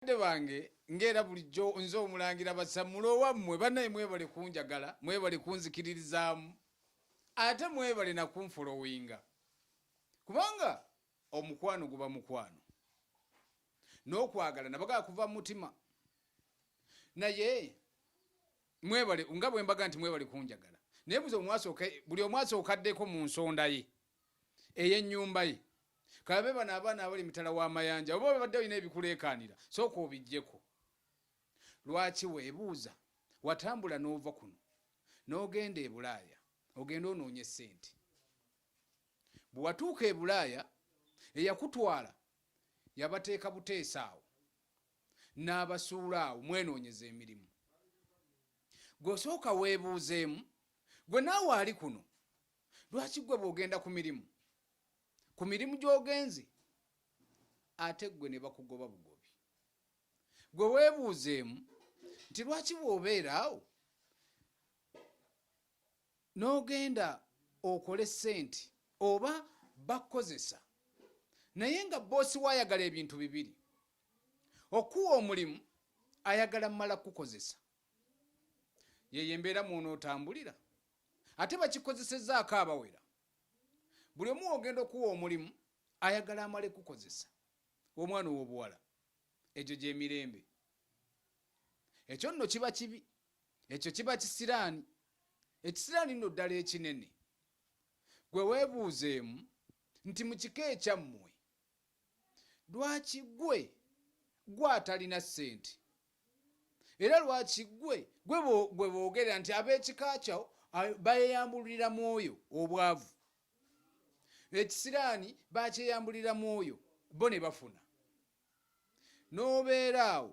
Bakadde bange ng'era bulijjo nze omulangira basammula owammwe banaye mwebale kunjagala mwebale kunzikiririzaamu ate mwebale nakunfolowinga kubanga omukwano guba mukwano n'okwagala nabagaa kuva mu mutima naye mwebale nga bwembaga nti mwebale kunjagala naye buza omwasooka buli omwasookaddeko mu nsonda ye ey'ennyumba ye kabe bano abaana abali emitala w'amayanja oba obadde olina ebikuleekaanira sooka obijjeko lwaki weebuuza watambula n'ova kuno n'ogenda e bulaaya ogenda onoonya essente bwe watuuka e bulaaya eyakutwala yabateeka buteesa awo n'abasuula awo mwenoonyeza emirimu gw'osooka weebuuzeemu gwe naawe ali kuno lwaki gwe bwogenda ku mirimu ku mirimu gyogenze ate gwe ne bakugoba bugobi gwe weebuuzeemu nti lwaki bwobeera awo n'ogenda okole sente oba bakukozesa naye nga boosi waayagala ebintu bibiri okuwa omulimu ayagala mumala kukukozesa yeyo embeera mwonootambulira ate bakikozesezaako abawera buli omu ogenda okuwa omulimu ayagala amale kukozesa omwana ow'obuwala egyo gyemirembe ekyo nno kiba kibi ekyo kiba kisiraani ekisiraani nno ddala ekinene gwe weebuuzeemu nti mu kika ekyammwe lwaki gwe gwe atalina ssente era lwaki gwe gwe boogerera nti ab'ekika kyawo bayeyambulira mu oyo obwavu ekisiraani bakyeyambulira mu oyo bo ne bafuna n'obeera awo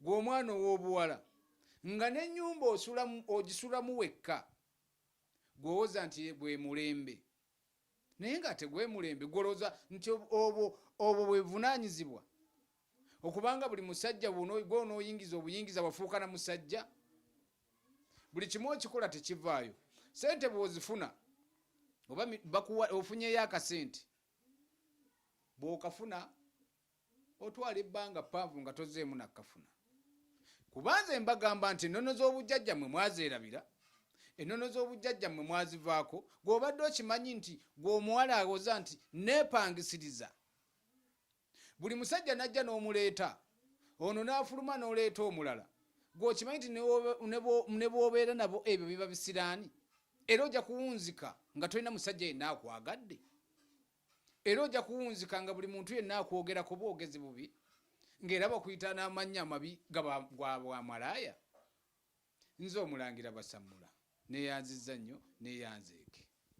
gwe omwana ow'obuwala nga n'ennyumba ogisulamu wekka gwewoza nti gwe mulembe naye nga tegwemulembe gwoloza nti obwo obwo bwebuvunanyizibwa okubanga buli musajja gwonoyingiza obuyingiza wafuuka na musajja buli kimu okikola tekivaayo sente bwozifuna oba bakuwa ofunyeyo akasente bwokafuna Otwala ebbanga ppanvu nga tozzeemu na kafuna. Kuba nze mbagamba nti ennono z'obujjajja mwe mwazeerabira, ennono z'obujjajja mwe mwazivaako, gw'obadde okimanyi nti gw'omuwala awoza nti neepangisiriza. Buli musajja n'ajja n'omuleeta, ono n'afuluma n'oleeta omulala. Gw'okimanyi nti ne bw'obeera nabo ebyo biba bisiraani, era ojja kuwunzika nga tolina musajja yenna akwagadde. era ojja kuwunzika nga buli muntu yenna akwogerako bwogezi bubi ng'era bakuyita n'amannya amabi gabwamalaaya nze omulangira basammula neyanzizza nnyo neyanzeeke